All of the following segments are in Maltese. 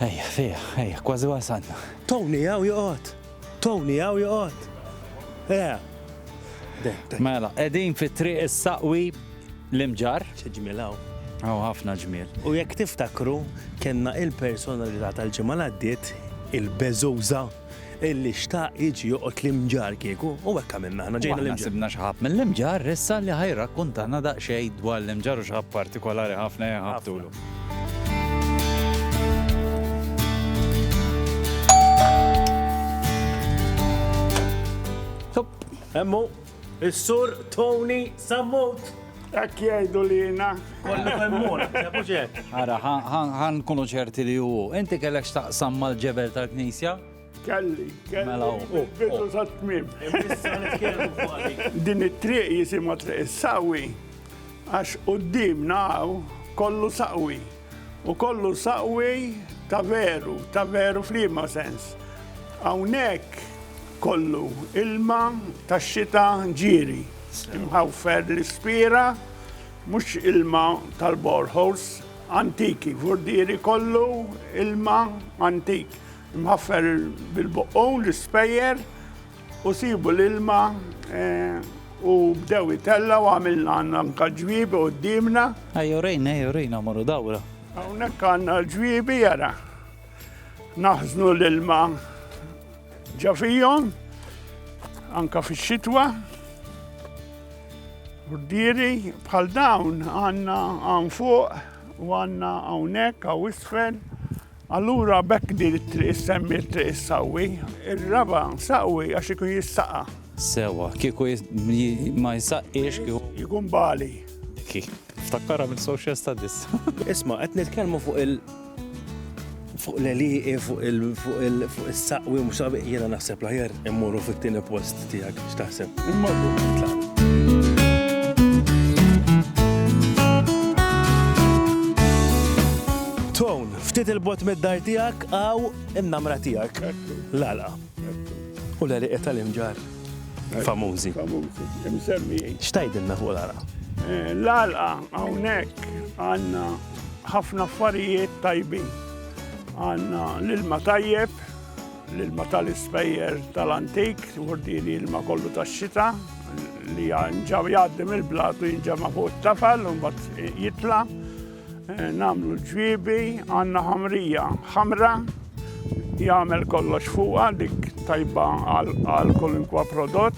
Ejja, fih, ejja, kważi wasalna. Tony hawn joqgħod! Tony hawn joqgħod! Ejja! Mela, qegħdin fi triq is-Saqwi l-Imġarr. Xi ġmiel hawn. Hawn ħafna ġmiel. U jekk tiftakru, kellna il-personalità tal-ġimgħa l-għaddiet, il-beżuża. illi xtaq jiġi joqgħod l-Imġarr kieku, u hekk għamilna aħna, ġejna l-Imġarr. U aħna sibna xi ħabb mill-Imġarr issa li ħa jirrakkuntana daqsxejn dwar l-Imġarr u xi ħabb partikolari ħafna li ħabbtulu. Hemm hu. Is-Sur Tony Sammut. Hekk jgħidu lina. Kollu femmur, mhux hekk. Ara, ħan kunu ċerti li hu. Inti kellek x'taqsam mal-ġebel tal-Knisja? Kelli, kelli. Mela hu. Bidu sa tmiem. Din it-triq jisimha triq is-sawi għax quddiem naw kollu saqwi. U kollu saqwej ta' veru, ta' veru f'liema sens? Hawnhekk kollu ilma tax-xita ġieri, imħawfer l-ispira, mhux ilma tal-boreholes antiki, vurdieri kollu ilma antik, imħaffer bil-boqqun, l-ispejjer, U sibu l-ilma u bdew itellgħu għamilna għandna anke ġwiebi quddiemna. Ejja urejna, ejja urejna morru dawra. Hawnhekk għandna l-ġwiebi jara. Naħżnu l-ilma ġa fihom anke fix-xitwa. Urdieri bħal dawn għandna hawn fuq u għandna hawnhekk hawn isfel. Allura b'hekk din it-triq issemmiet Triq is-Saqwi. Ir-raba' saqwi għax ikun jissaqa'. Sewwa, kieku ma jsaqqiex kieku. Ikun bali. Dik hi. Niftakkarha minn social studies. Isma' qed nitkellmu fuq il. Fuq l-għelieqi, fuq il-saqwi u mhux saqwi, jiena naħseb l-aħjar immorru fit-tieni post. tiegħek x'taħseb. Tone, ftit il-bot mid-dar tiegħek għaw in-namra tiegħek. Lala. U l-għaliq tal-imġar. Famużi. Famużi. Imsemmi. Xtajdinna fuq l-għala? Eh, l-għala, għawnek, għanna ħafna affarijiet tajbin. Għanna l-ilma tajjeb, L-ilma tal-ispejjer tal-antik, din ilma kollu tax-xita li ġaw jgħaddi mill-blat u jinġema' fuq it-tafal u mbagħad jitla' eh, nagħmlu l-ġwiebi, għandna ħamrija ħamra jagħmel kollox fuqha dik tajba għal kolinkwa prodott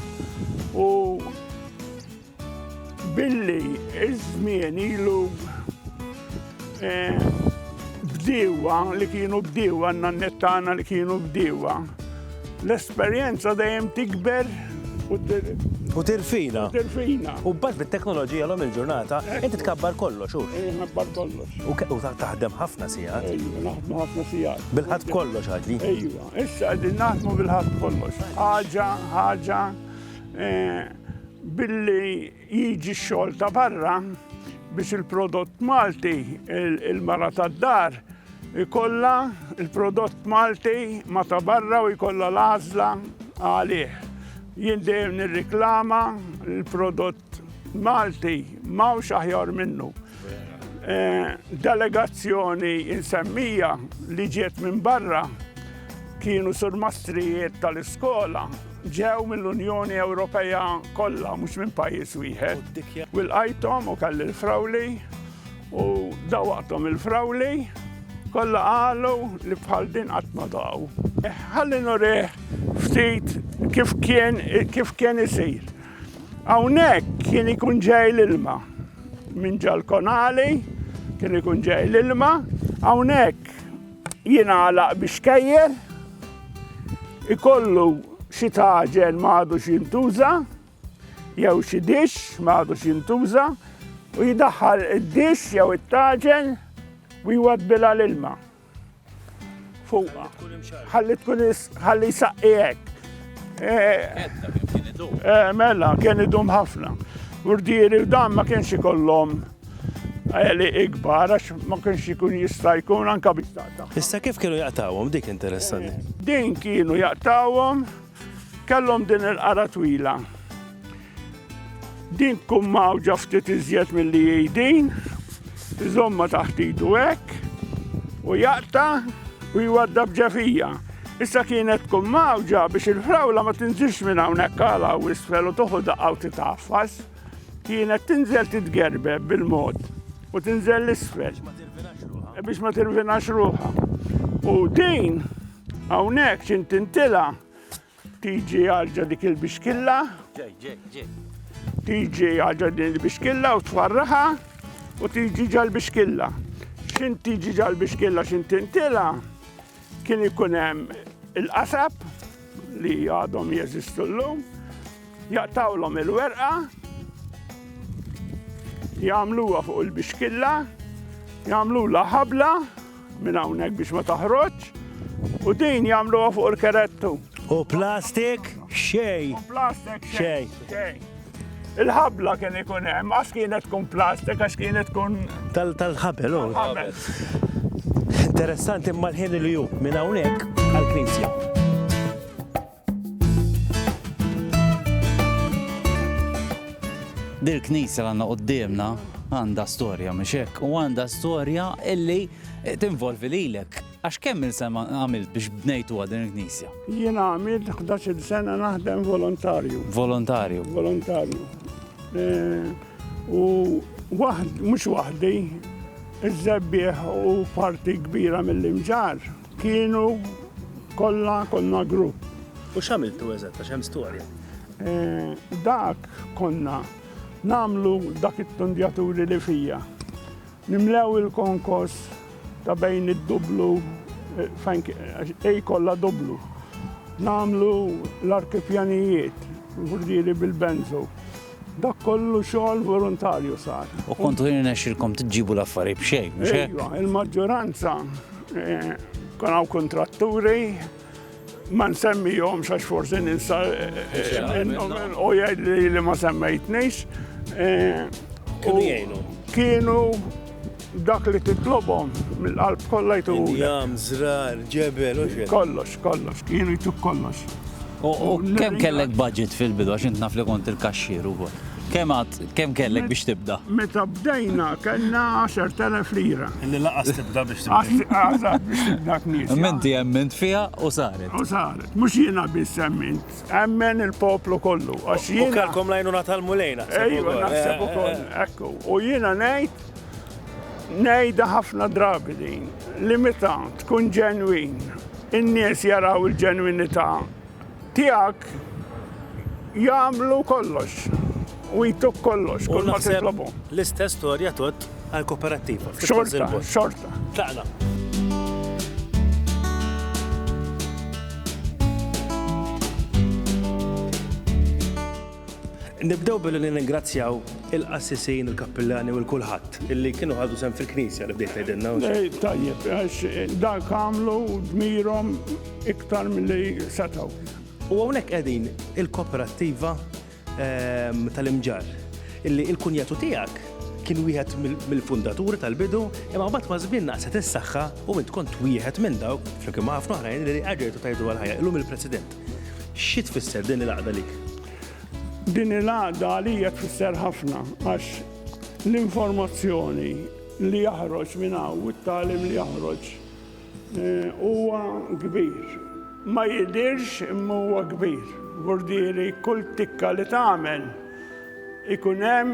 u Billi ż-żmien ilu bdiewa li kienu bdiewa, n-nanniet tagħna li kienu bdiewa, l-esperjenza dejjem tikber u U tirfina. Tirfina. U bad bit-teknoloġija l-om il-ġurnata, inti tkabbar kollox, u. Tkabbar kollox. U taħdem ħafna sijat. Ejju, naħdmu ħafna sijat. Bil-ħat kollox għadli. Ejju, issa għadin naħdmu bil-ħat kollox. Ħaġa, ħaġa, Billi jiġi x-xogħol ta' barra biex il-prodott Malti, il-mara tad-dar, ikollha l-prodott Malti ma ta' barra u jkollha l-għażla għalih. Jien dejjem nirriklama l-prodott Malti m'hawnx aħjar minnu. Delegazzjoni insemmija li ġiet minn barra kienu surmastrijiet tal-iskola, ġew mill-Unjoni Ewropea kollha mhux minn pajjiż wieħed. U lqajthom u kelli l-frawli u dawaqthom il-frawli kollha qalu li bħal din qatt ma daqgħu. Ħalli nurih ftit kif kien kif kien isir. Hawnhekk kien ikun ġej l-ilma. Minn ġal-konali kien ikun ġej l-ilma, hawnhekk jingħalaq biex kejjer, ikollu xi taġen ma għadux jintuża, jew xi dix ma għadux jintuża, u jidaħħal id-dix jew it-taġen u jwadbilha l-ilma. Fuqa. Ħalli tkun ħalli saqqijek. Eh, eh, mela, kien idum ħafna. Urdieri dan ma kienx ikollhom għeli ikbar, għax ma kienx ikun jista' jkun anka biex taqta. Issa kif kienu jaqtawhom dik interessanti? Din kienu jaqtawhom Kellhom din il-qara twila. Din tkun mawġa ftit iżjed milli hi din, iżomma taħt idu hekk u jaqta u jwadda b'ġefija. Issa kienet tkun mawġa biex il-frawla ma tinżilx minn hawnhekk għala u isfel u toħu daqqa u titaffas. Kienet tinżel titgerbe bil-mod u tinżel l-isfel biex ma tirvinax ruħa. U din Hawnhekk x'intintilha tiġi għalġa dik il-bixkilla. Tiġi għalġa din il-bixkilla u tfarraħa u tiġi ġal-bixkilla. X'in tiġi ġal-bixkilla x'intintilha kien ikun hemm il-qasab li għadhom jeżistu llum, jaqtawlhom il-werqa, jagħmluha fuq il-bixkilla, jagħmlulha ħabla, Minn hawnhekk biex ma toħroġx u din jagħmluha fuq il-kerettu. U plastik xej. U plastik xej. Il-ħabla kien ikun hemm, għax kienet tkun plastik, għax kienet tkun. Tal-ħabel, u. Interessanti imma l-ħin li ju, minn hawnhekk għal-knisja. Dil knisja għandna qudiemna għandha storja mhux hekk u għandha storja illi tinvolvi lilek. Għax kemm il-sema għamilt biex bnejtu din il-knisja? Jien għamilt 11 sena naħdem volontarju. Volontarju. Volontarju. E, u waħd, mhux waħdi, iż-żebbieħ u parti kbira mill-imġar Kienu kollha konna grupp. U x'għamiltu eżatt għax hemm storja? Eh, dak konna namlu dak it-tundjaturi li fija. Nimlew il-konkos ta' bejn id-dublu eh, fejn ej kollha dublu. Namlu l-arkipjanijiet, l-hurdiri bil-benzo. Dak kollu xogħol volontarju sar. U kontu jirnexxilkom tiġġibu l-affarijiet b'xejn, mhux hekk? Iva, il-maġġoranza eh, kon hawn kontratturi ma nsemmihom xax forsi ninsa eh, eh, u jgħid li ma semmejtnix. Kienu jgħinu. Kienu Dak li titlobhom mill-qalb kollha jtuhulek. Indjam, żrar, ġebel, u x'hekk. Kollox, kollox, kienu jtuk kollox. U kemm kellek budget fil-bidu għax int naf li kont il-kaxxier ukoll. Kemm għad, kemm kellek biex tibda? Meta bdejna kellna 10,000 lira. Li lanqas tibda biex tibda. Eżatt, biex tibda knisja. Imma inti emmint fiha u saret. U saret. Mhux jiena biss emmint. Emmen il-poplu kollu. Għax jien. Kelkom lajnuna tal-mulej naħseb. Ejwa, naħseb ukoll. Ekku. U jiena ngħid ngħidha ħafna drabi din li meta tkun ġenwin in-nies jaraw il-ġenwinità tiegħek jagħmlu kollox. U jtuk kollox, kull ma titlobu. L-istess storja tot għal-koperattiva. Xorta, xorta. Tlaqna. Nibdew billi ningrazzjaw il-qassisin, il-kappillani u l-kulħadd illi kienu ħadu sem fil-knisja li bdejt tgħidilna. Eh, tajjeb, għax eh, dak għamlu dmirhom iktar milli setgħu. U hawnhekk qegħdin il-koperattiva tal-imġarr illi il-kunjatu tiegħek kien wieħed mill-fundaturi tal-bidu, imma mbagħad ma' żmien naqset is-saħħa u int kont wieħed minn dawk flimkien ma' ħafna oħrajn li qegħdejtu tajdu għal ħajja illum il-President. Xi tfisser din il-għaqda lik? Din il-għaqda għalija tfisser ħafna għax l-informazzjoni li jaħroġ minn hawn u t-tagħlim li jaħroġ Huwa kbir. Ma jidhirx imma huwa kbir. Gurdieri kull tikka li tagħmel ikun hemm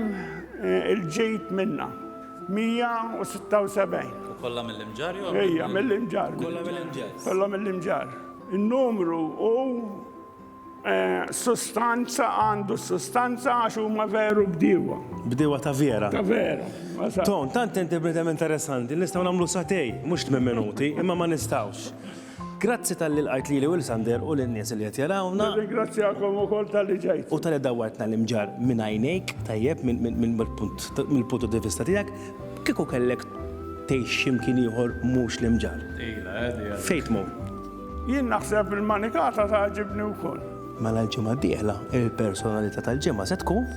il-ġid minnha. 176. U kollha mill-Imġarr jew Ejja, mill-Imġarr. Kollha mill-Imġarr. Kollha mill-Imġarr. In-numru hu. Sustanza għandu sustanza għax huma veru bdiewa. Bdiewa ta' vera. Ta' vera. Ton, tant inti bnedem interessanti, nistgħu nagħmlu satej, mhux tmien minuti, imma ma nistgħux. Grazzi tal-li l-għajt li Will Sander u l-nies li qed jarawna. Ringrazzjakom ukoll tal-li ġejt. U tal-li dawwartna l-imġar minn għajnejk, tajjeb mill-punt di vista tiegħek, kieku kellek tgħix x'imkien ieħor mhux l-imġar. Fejn tmur? Jien naħseb il-manikata tagħġibni wkoll. Mela l-ġimgħa d-dieħla il-personalità tal-ġimgħa se tkun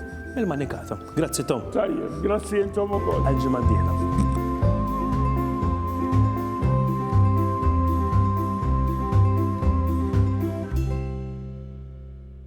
il-manikata. Grazzi Tom. Tajjeb, grazzi intom ukoll. Għal-ġimgħa d-dieħla.